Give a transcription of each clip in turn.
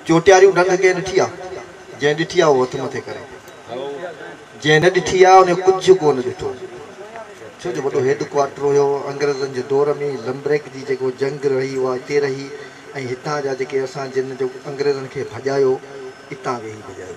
چوٽياريون ڊنگ ڪنهن ڏٺي آ؟ جنهن ڏٺي آ اهو هٿ مٿي ڪري. جنهن نه ڏٺي آ انهيء ڪجهه ڪو نه ڏٺو. ڇو جو وڏو هيڊ ڪوارٽر هيو انگريزن جي دور ۾ لمبريڪ جي جيڪو جنگ رهي اها اتي رهي ۽ هتان جا جيڪي اسان جن جو انگريزن کي ڀڄايو اتان ويهي ڀڄايو.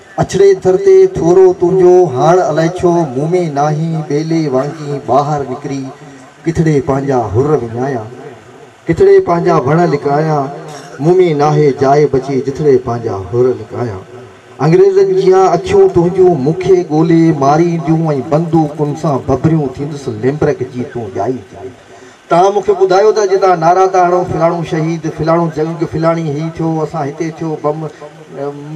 اڇڙي در تي ٿورو تنهنجو هاڻ الائي ڇو مون ۾ ناهين ٻيلي وانگي ٻاهر نڪري ڪٿڙي پنهنجا حر وڃايان ڪٿڙي پنهنجا وڻ لڪايان مون ۾ ناهي جاء بچي جٿڙي پنهنجا حر لڪايان انگريزن جيان اکيون تنهنجون مون کي ڳولي مارينديون ۽ بندوقن سان ببريون ٿيندس ليمبرڪ جي تون ڄائي ڄائي توهان مون کي ٻڌايو ته اڄ توهان نعرا ٿا هڻو فلاڻو شهيد، فلاڻو جنگ، فلاڻي هي ٿيو، اسان هتي ٿيو، بم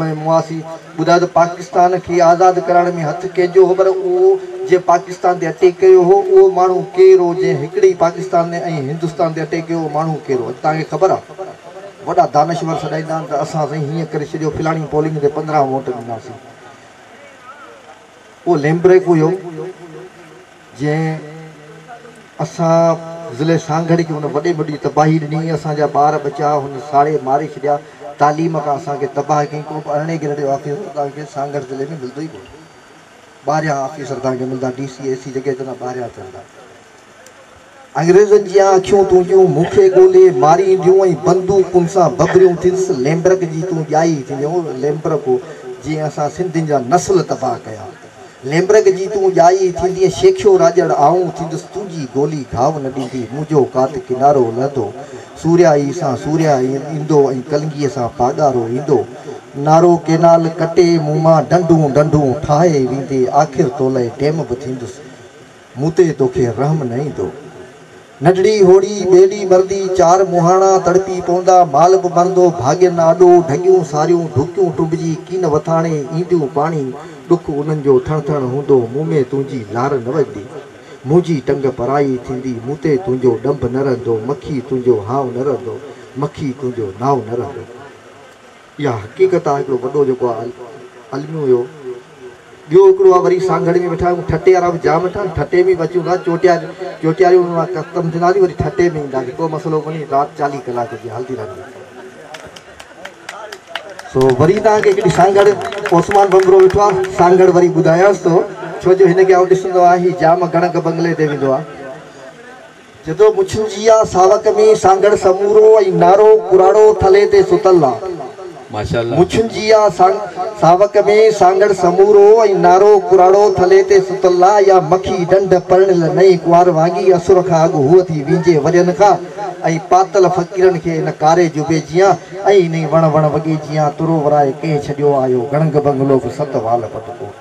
۾ مواسي ٻڌايو ته پاڪستان کي آزاد ڪرائڻ ۾ هٿ ڪنهن جو هو پر اهو جنهن پاڪستان تي اٽيڪ ڪيو هو اهو ماڻهو ڪير هو جنهن هڪڙي ئي پاڪستان ۽ هندستان تي اٽيڪ ڪيو اهو ماڻهو ڪير هو اڄ توهان کي خبر آهي وڏا دانشور سڏائيندا آهن ته اسان سائين هيئن ڪري ڇڏيو فلاڻي پولنگ تي پندرهن ووٽ ڏناسين اهو ليمبريڪ هيو جنهن اسان ضلعي سانگهڙ کي ان وڏي ۾ وڏي تباهي ڏني، اسان جا ٻار ٻچا هن ساڙي ماري ڇڏيا، تعليم کان اسان کي تباهه ڪيائين، ڪوبه ارڙهين گريڊ جو آفيسر توهان کي سانگهڙ ضلعي ۾ ملندو ئي ڪونه، ٻاهريان آفيسر توهان کي ملندا، ڊي سي اي سي جيڪي هتي هوندا ٻاهريان هتي هوندا. انگريزن جيان اکيون تنهنجون مون کي ڳولي مارينديون ۽ بندوقن سان ببريون ٿينس ليمبرڪ جي تون ڄائي ٿيندين اهو ليمبرڪ هو جنهن اسان سنڌين جا نسل تباهه ڪيا ليمبرڪ جي تون ڄائي ٿيندين شيخيو راڄڙ آئون ٿيندس تنهنجي گولي گهاو نه ڏيندي منهنجو ڪات ڪنارو لهندو سورهيائي سان سورهيا ايندو ۽ ڪلنگي سان پاڳارو ايندو نارو ڪينال ڪٽي مون مان ڍنڍون ڍنڍون ٺاهي ويندي آخر تولئي ڊيم به ٿيندس مون تي توکي رحم نه ايندو. نڍڙي هوڙي، ٻيلي مرندي، چار مونهاڻا تڙپي پوندا، مال به مرندو، ڀاڳين آڏو، ڍڳيون ساريون، ڍوڪيون ٽنبجي، ڪين وٿاڻي، اينديون پاڻي، ڏک انهن جو ٿڻ ٿڻ هوندو، مون ۾ تنهنجي لار نه وڄندي، منهنجي ٽنگ پرائي ٿيندي، مون تي تنهنجو ڏنڀ نه رهندو، مکي تنهنجو هانء نه رهندو، مکي تنهنجو نانء نه رهندو. اها حقيقت آ هڪڙو وڏو جيڪو آ الميو اهو ٻيو هڪڙو آ وري سانگهڙ ۾ ويٺا آهيون ٺٽي وارا به جام ويٺا آهن ٺٽي ۾ به اچون ٿا چوٽيا چوٽياريون ۾ مان ختم ٿينداسين وري ٺٽي ۾ اينداسين ڪو مسئلو ڪونهي رات چاليهه ڪلاڪ جي هلندي رهندي سو وري تان کي هڪڙي سانگهڙ عثمان بمبرو ويٺو آ سانگهڙ وري ٻڌايانس ٿو ڇو جو هن کي آئون ڏسندو آهي هي جام گڻڪ بنگلي تي ويندو آ جدو مڇون جي آ ساوڪ ۾ سانگهڙ سمورو ۽ نارو ڪراڙو ٿلهي تي ستل آ. مڇون جي آ ساوڪ ۾ سانگهڙ سمورو ۽ نارو ڪراڙو ٿلهي تي ستل آ اها مکي ڏنڍ پرڻيل نئين ڪنوار وانگي اسر کان اڳ هوء ٿي وينجهي ورهين کان ۽ پاتل فقيرن کي ان ڪاري جبي جيان ۽ انهي وڻ وڻ وڳي جيان ترو ورائي ڪنهن ڇڏيو آيو گڻنگ بنگلو به ست وال پٽڪو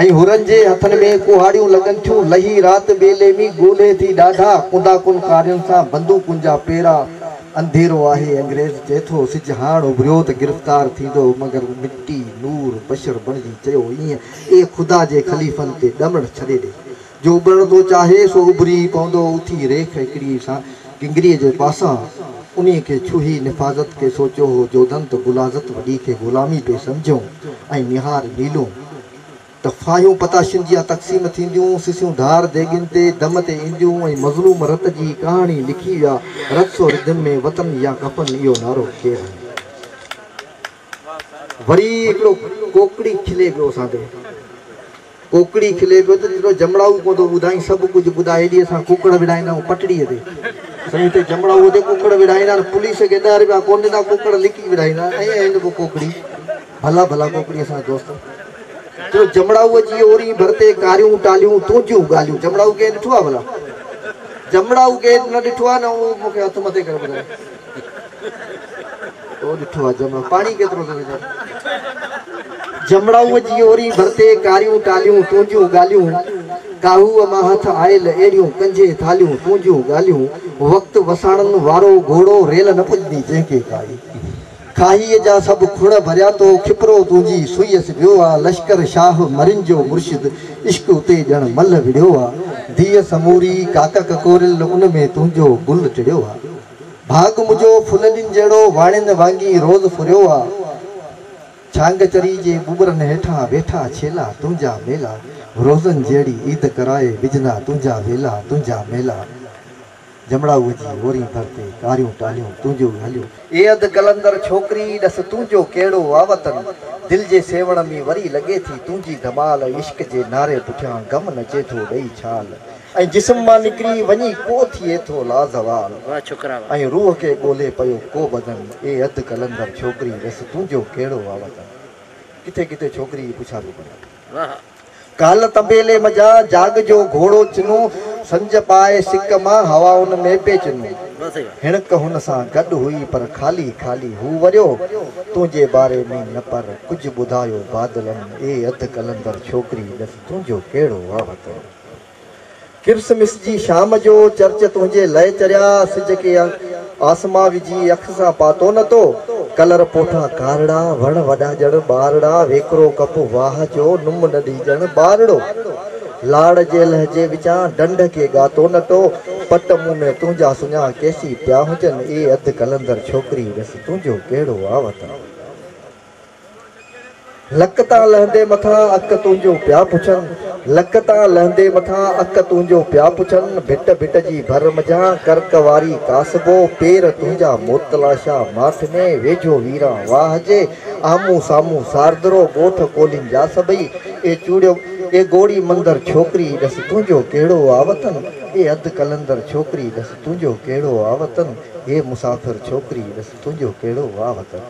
۽ حرن جي هٿن ۾ ڪهاڙيون لڳن ٿيون، لهي رات ٻيلي ۾ ڳولهي ٿي ڏاڍا، ڪندا ڪن ڪارين سان بندوقن جا پيرا، انڌيرو آهي انگريز چئي ٿو، سج هاڻ اڀريو ته گرفتار ٿيندو، مگر مٽي نور بشر بڻجي چيو ايئن، اي خدا جي خليفن تي ڏمڙ ڇڏي ڏي. جو اڀرڻ ٿو چاهي سو اڀري ئي پوندو. اٿي ريک هڪڙيء سان گنگريء جي پاسان انهيء کي ڇهي نفاذت کي سوچيو هو جوڌن ته بلاذت وڏي کي غلامي پئي سمجهيون ۽ نهار نيلون ته ڦاهيون پتاشين جيان تقسيم ٿينديون سسيون ڌار ديڳين تي دم تي اينديون ۽ مظلوم رت جي ڪهاڻي لکي ويا رت سو رڌم ۾ وطن يا ڪفن اهو نعرو کير ۽ وري هڪڙو ڪوڪڙي کلي پيو اسان تي. ڪوڪڙي کلي پيو ته تيڏو جمڙائو پوندو ٻڌائين سڀ ڪجهه ٻڌاء هيڏي اسان ڪوڪڙ وڙهائيندا آهيون پٽڙيء تي. سائين هتي جمڙائوء تي ڪوڪڙ وڙهائيندا آهن پوليس کي ڏهه رپيا ڪونه ڏيندا ڪوڪڙ لڪي وڙهائيندا آهن ائين هن پوء ڪوڪڙي ڀلا ڀلا ڪوڪڙي اسان جا دوست تيڏو جمڙائوء جي اورين ڀر تي ڪاريون ٽاليون تنهنجيون ڳالهيون جمڙائو ڪنهن ڏٺو آهي ڀلا جمڙائو ڪنهن نه ڏٺو آهي نه هو مون کي هٿ مٿي ڪري ٻڌائي. تو ڏٺو آ جمڙو پاڻي ڪيترو ٿو وجهان. جمڙائوء جي اورين ڀرتي ڪاريون ٽاليون تنهنجون ڳالهيون ڪاهوء مان هٿ آيل اهڙيون ڪنجهي ٿاليون تنهنجون ڳالهيون وقت وساڻن وارو گهوڙو ريل نه پڄندي جنهن کي ڪائي. کاهيء جا سڀ کڻ ڀريا تو کپرو تنهنجي سوئيس ويو آ لشڪر شاهه مرين جو مرشد عشق اتي ڄڻ ملهه وڙهيو آ ديء سموري ڪاڪ ڪڪوريل ان ۾ تنهنجو گل ٽڙيو آ ڀاڳ منهنجو ڦللين جهڙو واڻين وانگي روز ڦريو آ ڇانگ چري جي ٻٻرن هيٺان ويٺا ڇيلا تنهنجا ميلا روزن جهڙي عيد ڪرائي وجهندا تنهنجا ويلا تنهنجا ميلا. جمڙا اهو جي هورين ڀر تي ڪاريون ٽاليون تنهنجو ئي هليو. اي اڌ قلندر ڇوڪري ڏس تنهنجو ڪهڙو آ وطن دل جي سيوهڻ ۾ وري لڳي ٿي تنهنجي ڌمال عشق جي نعري پٺيان غم نچي ٿو ڏئي ڇال ۽ جسم مان نڪري وڃي ڪو ٿئي ٿو لازوال ۽ روح کي ڳولهي پيو ڪو بدن اي اڌ قلندر ڇوڪري ڏس تنهنجو ڪهڙو آ وطن ڪٿي ڪٿي ڇوڪري جي پڇا پيو ڪريان. ڪالهه طبيلي منجهان جاڳ جو گهوڙو چنو، سنج پائي سڪ مان هوائن ۾ پئي چنو. هيڻڪ هن سان گڏ هئي پر خالي خالي هو وريو. تنهنجي باري ۾ نه پر ڪجهه ٻڌايو بادلن، اي اڌ قلندر ڇوڪري ڏس تنهنجو ڪهڙو وهوتو. ڪرسمس جي شام جو چرچ تنهنجي لئه چريا سج کي آسمان وجهي اک سان پاتو نه تو ڪلر پوٺا ڪارڙا وڻ وڏا ڄڻ ٻارڙا ويڪرو ڪپ واهه جو نم ننڍي ڄڻ ٻارڙو لاڙ جي لهجي وچان ڍنڍ کي ڳاتو نه تو پٽ مون ۾ تنهنجا سڃا ڪيسي پيا هجن اي اڌ قلندر ڇوڪري ڏس تنهنجو ڪهڙو آ وطن. لڪ تان لهندي مٿان اک تنهنجون پيا پڇن، لڪ تان لهندي مٿان اک تنهنجون پيا پڇن، ڀٽ ڀٽ جي ڀر منجهان ڪرڪ واري ڪاسبو، پير تنهنجا موتلاشا ماٺ ۾، ويجهو ويران واهه جي، آمهون سامهون ساردرو، ڳوٺ ڪولهين جا سڀئي، اي چوڙيو اي گوڙي مندر ڇوڪري ڏس تنهنجو ڪهڙو آ وطن، اي اڌ قلندر ڇوڪري ڏس تنهنجو ڪهڙو آ وطن، اي مسافر ڇوڪري ڏس تنهنجو ڪهڙو آ وطن.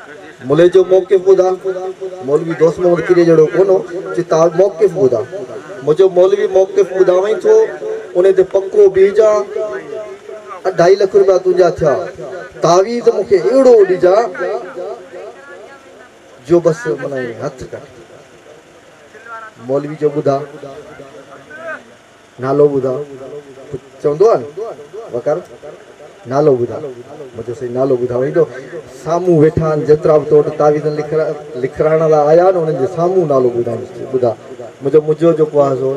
ملي جو موقف ٻڌاء. مولوي دوست محمد ڪيريء جهڙو ڪونه هو، چي تاج موقف ٻڌاء. منهنجو مولوي موقف ٻڌاوئين ٿو، انهي تي پڪو بيهجان. اڍائي لک روپيا تنهنجا ٿيا. تعويذ مون کي اهڙو ڏجان، جو بس من ائين هٿ ڪٽي. مولوي جو ٻڌاء. نالو ٻڌاء ته چوندو آهي نه وقار نالو ٻڌاء منهنجو سائين نالو ٻڌاء هيڏو سامهون ويٺا آهن جيترا به تو وٽ تعويذن لکرائڻ لاء آيا آهن انهن جي سامهون نالو ٻڌائينس چي ٻڌاء منهنجو مجو جو ڪوهه سو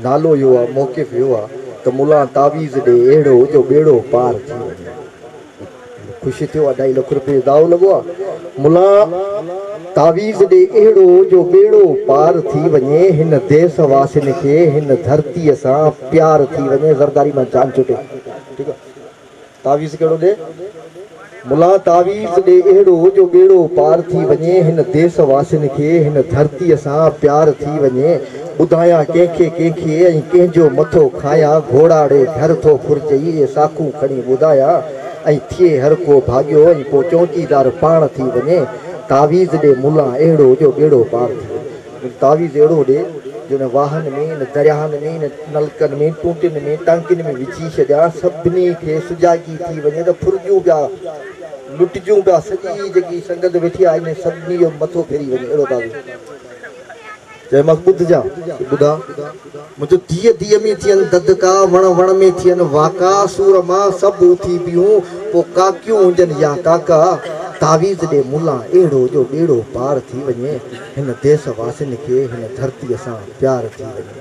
نالو اهو آهي موقف اهو آهي ته ملان تعويذ ڏي اهڙو جو ٻيڙو پار ٿي وڃي. خوشي ٿيو اڍائي لک روپيه داء لڳو آ ملا تعويذ ڏي اهڙو جو ٻيڙو پار ٿي وڃي هن ديس واسين کي هن ڌرتي سان پيار ٿي وڃي زرداري مان جان ڇٽي ٺيڪ آ تعويذ ڪهڙو ڏي ملا تعويذ ڏي اهڙو جو ٻيڙو پار ٿي وڃي هن ديس واسين کي هن ڌرتي سان پيار ٿي وڃي. ٻڌايان ڪنهن کي ڪنهن کي ۽ ڪنهن جو مٿو کايان گهوڙاڙي گهر ٿو ڦرجئي اهي ساکون کڻي ٻڌايا ۽ ٿئي هر ڪو ڀاڳيو ۽ پوء چوڪيدار پاڻ ٿي وڃي تعويذ ڏي ملا اهڙو جو ٻيڙو پار ٿي وڃي. مون تعويذ اهڙو ڏي جو ان واهن ۾ ان درياهن ۾ ان نلڪن ۾ ٽونٽين ۾ ٽانڪين ۾ وجهي ڇڏيان سڀني کي سجاڳي ٿي وڃي ته ڦرجون پيا لٽجون پيا سڄي جيڪي سنگت ويٺي آهي انهن سڀني جو مٿو ڦري وڃي اهڙو تعويذ. چيومانس ٻڌ جا ته ٻڌا، منهنجو ديء ديء ۾ ٿين ددڪا، وڻ وڻ ۾ ٿين واڪا، سور مان سڀ اٿي بيهون، پوء ڪاڪيون هجن يا ڪاڪا، تعويذ ڏي ملا اهڙو جو ٻيڙو پار ٿي وڃي، هن ديس واسين کي هن ڌرتيء سان پيار ٿي وڃي.